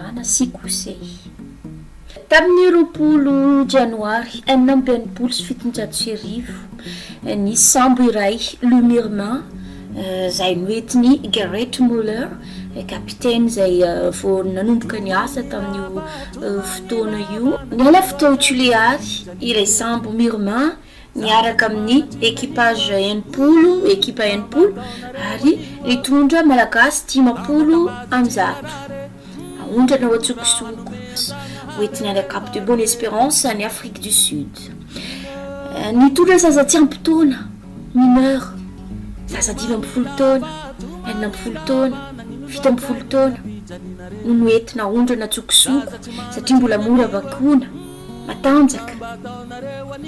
Ana sy Kosey. Tamin'ny roapolo Janoary enina amby enimpolo sy fitonjato sy arivo, nisy sambo iray, Le Mirna, izay noentin'i Gerrit Müller, kapiteny izay vao nanomboka niasa tamin'io fotoana io. Niala avy tao Tuléar ilay sambo Mirna miaraka amin'ny equipage enimpolo, ekipa enimpolo, ary nitondra Malagasy dimampolo amby zato. Aondrana ao an-tsokosoko, hoentina any Cap de Bonne Espérance, any Afrique du Sud. Nitondra zaza tsy ampy taona, mineur, zaza dimy ambin'ny folo taona, enina ambin'ny folo taona, fito ambin'ny folo taona, no noentina aondrana an-tsokosoko, satria mbola mora vakoana. Matanjaka!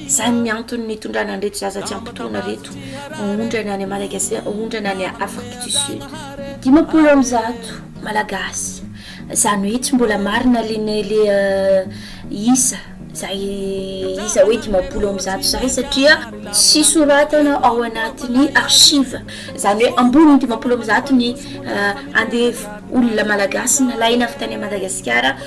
Izany ny antony nitondrana an'ireto zaza tsy ampy taona ireto haondrana any Madagasy haondrana any Afrique du Sud. Dimampolo amby zato Malagasy, izany hoe tsy mbola marina lene le isa izay isa hoe dimampolo amby zato izay satria tsy soratana ao anatin'ny archive, izany hoe ambonin'ny dimampolo amby zato ny andevo olona Malagasy nalaina avy tany Madagasikara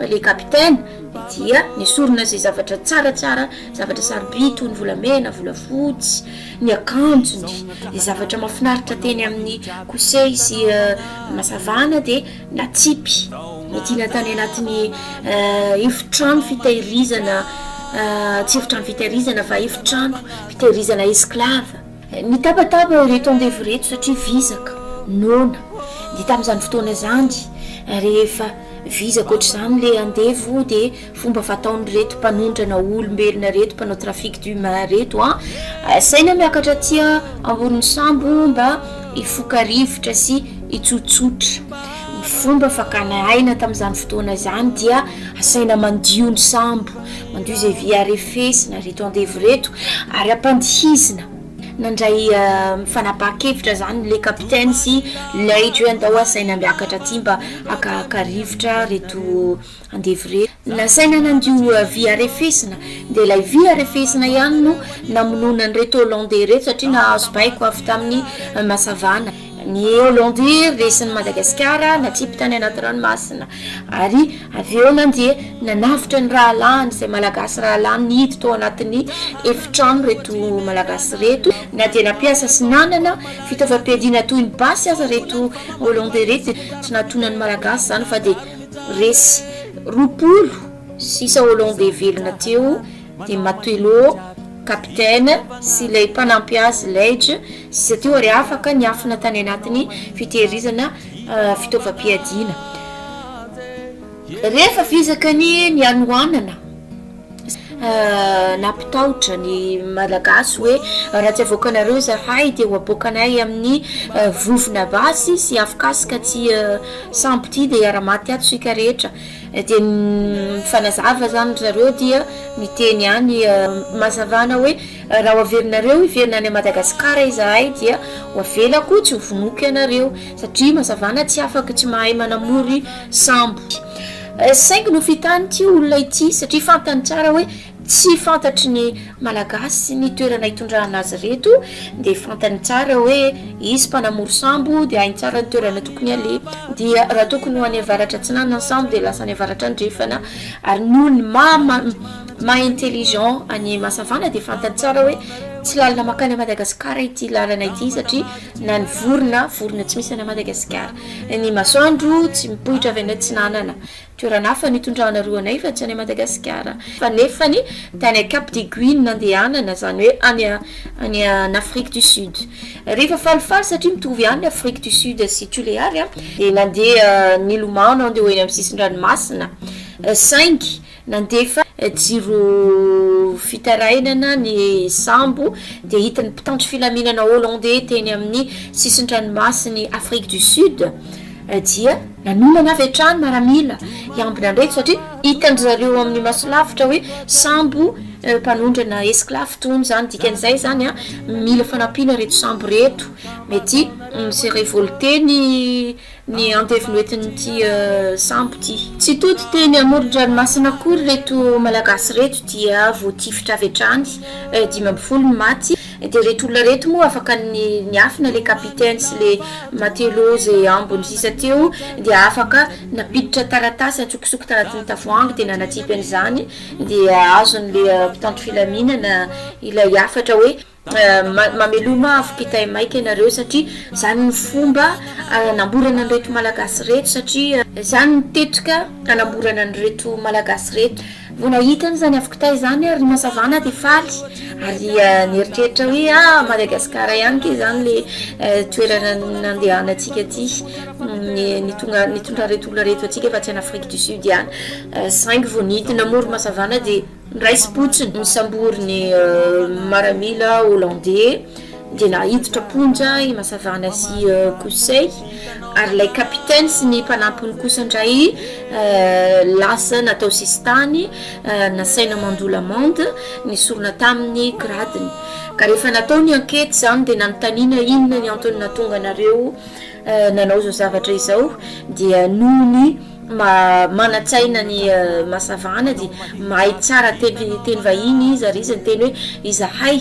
Le capitaine dia nesorina ze zavatra tsara tsara zavatra sarobidy toy ny volamena volafotsy ny akanjony de zavatra mafinaritra teny aminy kosey sy masavana de natsipy nidina tany anatiny efitrano fitehirizana tsy efitrano fitehirizana fa efitrano fitehirizana esclave Nitabataba ireto andevo ireto satria vizaka, noana. Dia tamin'izany fotoana izany, rehefa vizaka ohatr'izany ilay andevo, dia fomba fataon'ireto mpanondrana olombelona ireto, mpanao trafic d'humain ireto, asaina miakatra aty ambonin'ny sambo mba hifoka rivotra sy hitsotsotra. Ny fomba fakana aina tamin'izany fotoana izany dia asaina mandio ny sambo. Mandio izay vy harefesina reto andevo reto ary ampandihizina. Nandray fanapahan-kevitra izany le kapiteny sy leitra hoe andao asaina miakatra aty mba hakahaka rivotra reto andevo reto. Nasaina nandio vy harefesina dia ilay vy harefesina ihany no namonoana an'ireto Holandais ireto satria nahazo baiko avy tamin'ny Masavana. Ny Holanday resin'i Madagasikara natripy tany anaty ranomasina ary avy eo nandeha nanavotra ny rahalahiny izay Malagasy rahalahiny nihidy tao anatin'ny efitrano ireto Malagasy ireto na dia nampiasa sy nanana fitaovam-piadiana toy ny basy aza ireto Holanday ireto dia tsy nahatonan'ny Malagasy izany fa dia resy roapolo sisa Holanday velona teo Dia matelot, capitaine, sy ilay mpanampy azy, Leitch, sisa teo ary afaka niafina tany anatin'ny fitehirizana fitaovam-piadiana. Rehefa vizaka ny nianohanana, nampitahotra ny Malagasy hoe raha tsy avoakanareo izahay dia ho aboakanay amin'ny vovona basy sy afokasika tsy sampy ity dia hiara-maty ato isika rehetra. Na dia mifanazava aza aminy ry zareo dia miteny ihany Mazavana hoe raha ho averinareo hiverina any Madagasikara izahay dia ho avelako tsy ho vonoiko ianareo satria Mazavana tsy afaka tsy mahay manamory sambo. Saingy nofitany ity olona ity satria fantany tsara hoe Tsy fantatry ny Malagasy ny toerana hitondrana azy ireto dia fantany tsara hoe izy mpanamory sambo dia hainy tsara ny toerana tokony haleha dia raha tokony ho any avaratra atsinanana ny sambo dia lasa any avaratra andrefana ary ny olony ma ma intelligent any Masavana dia fantany tsara hoe tsy lalana makany Madagasikara ity lalana ity satria na ny vorona vorona tsy misy any Madagasikara ny masoandro tsy mipoitra avy any atsinanana Toerana hafa nitondrana roa anay fa tsy any Madagasikara. Fa nefany tany Cap des Guilles no nandehanana, izany hoe any any an Afrique du Sud. Rehefa falifaly satria mitovy ihany Afrique du Sud sy Tuléar a, dia nandeha nilomano andeha ho eny amin'ny sisin-dranomasina, saingy nandefa jiro fitarainana ny sambo dia hita ny mpitandro filaminana Hollandais teny amin'ny sisin-dranomasin'i Afrique du Sud. Dia nanonana avy hatrany maramila i Ambinandreto satria hitan-dry zareo ao amin'ny masolavitra hoe sambo mpanondrana esclave tony izany. Dikan'izay izany an, mila fanampiana ireto sambo ireto. Mety mi-se revolter ny ny andevo entin'ity sambo ity. Tsy tody teny amoron-dranomasina akory ireto Malagasy ireto dia voatifitra avy hatrany. Dimy ambin'ny folo ny maty. Dia reto olona reto moa afaka niafina le capitaine sy le matelot ze ambony sisa teo dia afaka nampiditra taratasy antsokosoko tanatin'ny tavoahangy dia nanatipy an'izany dia azon'le mpitandro filaminana ilay hafatra hoe mameloma afo kitay maika ianareo satria zany ny fomba anamborana an'ireto malagasy reto satria zany ny tetika anamborana an'ireto malagasy reto. Mbola hitany izany avokontay izany ary Rima Savana dia faly ary nieritreritra hoe a Madagascar ihany kay izany le toerana nandehanantsika ty nitonga nitondra reto olona reto antsika fa tsy any Afrique du Sud ihany saingy vao nidina moa Rima Savana dia niraisim-potsiny nisambory ny maramila hollandais dia naiditra am-ponja i Masavana sy Kosey, ary ilay kapiteny sy ny mpanampiny kosa indray lasa natao sisintany, nasaina mandoa l'amende, nesorina tamin'ny gradiny. Ka rehefa natao ny ankety izany dia nanontaniana inona ny antony nahatonga anareo nanao izao zavatra izao dia noho ny. manan-tsaina ny Masavana dia mahay tsara teny vahiny izy ary izy niteny hoe izahay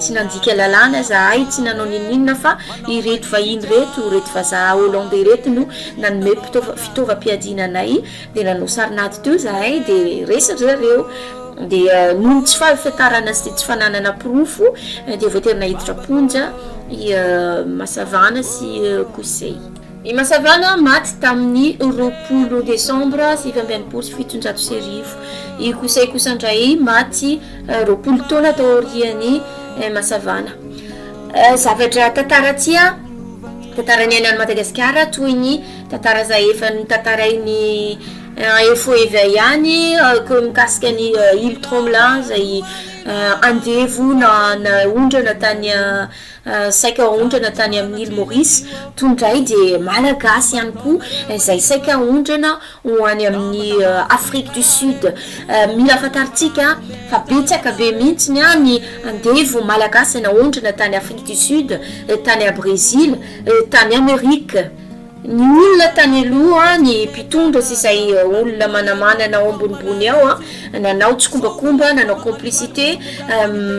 tsy nandika lalàna, izahay tsy nanao n'inon'inona fa ireto vahiny ireto, ireto vazaha Hollandais ireto no nanome fitaovam-piadiana anay dia nanao sarin'ady teo izahay dia resy ry zareo dia noho ny tsy fahafantarana sy tsy fananana porofo dia voatery nahiditra am-ponja i Masavana sy Kosey. I Masavana maty tamin'ny roapolo desambra sivy amby enimpolo sy fitonjato sy arivo. I Kosay kosa indray maty roapolo taona taorian'i Masavana. Zavatra tantara tsia tantara niaina any Madagasikara toy ny tantara izay efa notantarain'i info eva ihany koa mikasika ny Île Tromelin izay andevo na naondrana tany saika haondrana tany amin'ny Île Maurice, toy ny ray dia Malagasy ihany koa izay saika haondrana ho any amin'ny Afrique du Sud. Mila fantarintsika fa betsaka be mihitsy ny andevo Malagasy naondrana tany Afrique du Sud, tany Brésil, tany Amérique. Ny olona tany aloha, ny mpitondra sy izay olona manamanana ao ambonimbony ao an, nanao tsikombakomba, nanao complicité,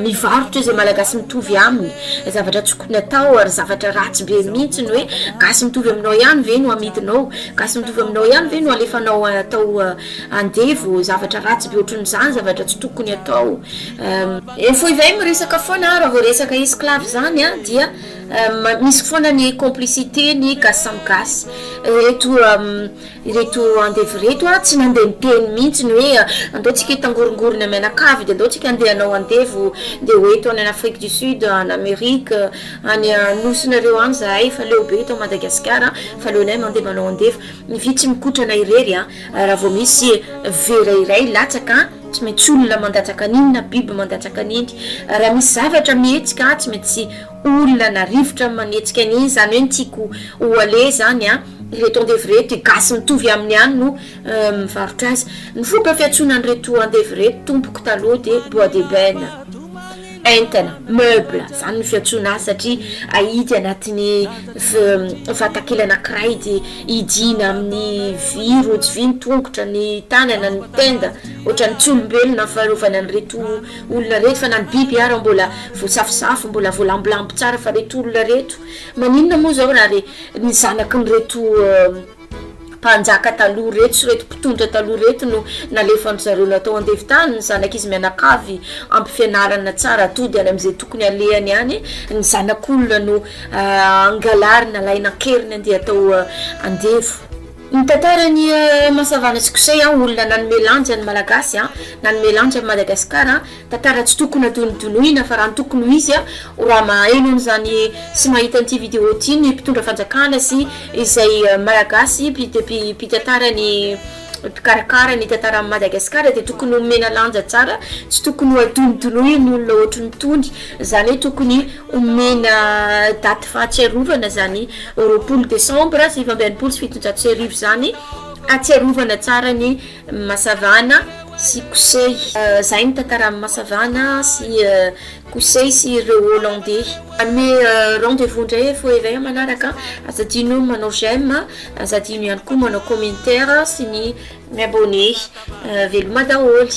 mivarotra izay malagasy mitovy aminy, zavatra tsy tokony atao ary zavatra ratsy be mihitsy ny hoe gasy mitovy aminao ihany ve no amidinao, gasy mitovy aminao ihany ve no alefanao atao andevo, zavatra ratsy be ohatran'izany, zavatra tsy tokony atao, ny foibe miresaka foana raha vao resaka esclave zany dia Misy foana ny complicité ny gasy samy gasy ireto ireto andevo ireto a tsy mandeha miteny mihitsy ny hoe andao tsika hitangorongorona mianakavy de andao tsika andeha hanao andevo de ho eto any afrique du sud any amerique any nosinareo any zahay fa leo be eto madagasikara fa aleonay mandeha manao andevo ny vy tsy mikotrana irery a raha vao misy vera iray latsaka tsy maintsy olona mandatsaka an'iny na biby mandatsaka an'iny raha misy zavatra mihetsika tsy maintsy Olana, rivotra manetsika ny izany hoe ny tiako ho aleha izany an, ireto andevo ireto, gasy mitovy aminy ihany no mivarotra azy. Ny fomba fiantsoana an'ireto andevo ireto tompoko taloha dia bois d'ebène, entana, meuble, izany no fiantsoana azy satria ahidy anatin'ny vatakely anankiray dia hidiana amin'ny vy, rojo vy ny tongotra, ny tanana, ny tenda, ohatran'ny tsy olombelona faharovana an'ireto. Olona reto fa na ny biby ara mbola voasafosafo mbola voalambilamby tsara fa reto olona reto maninona moa zao raha re ny zanaky ny reto mpanjaka taloha reto sy reto mpitondra taloha reto no nalefan'dry zareo natao andevo tany ny zanak'izy mianakavy ampifianarana tsara atody any am'zay tokony alehany any ny zanak'olona no angalarina alaina an-keriny andeha atao andevo Ny tantaran'i Masavana sy Kosey, olona nanome lanja ny Malagasy, nanome lanja an'i Madagasikara, tantara tsy tokony hadonodinoina fa raha ny tokony ho izy, ho raha maheno an'izany sy mahita an'ity vidéo ity ny mpitondra fanjakana sy izay Malagasy mpitantara ny mpikarakara ny tantaran'i Madagasikara dia tokony homena lanja tsara, tsy tokony hadonodinoina ny olona ohatran'itony, izany hoe tokony Omena daty fahatsiarovana izany roapolo desambra sivy amby enimpolo sy fitonjato sy arivo izany hatsiarovana tsara ny Masavana sy Kosey. Izay ny tantaran'ny Masavana sy Kosey sy ireo Holandey. Hanome rendez vous indray efa ho ela eo manaraka. Aza adino ny manao j'aime, aza adino ihany koa manao commentaire sy ny mi-abonner. Veloma daholo.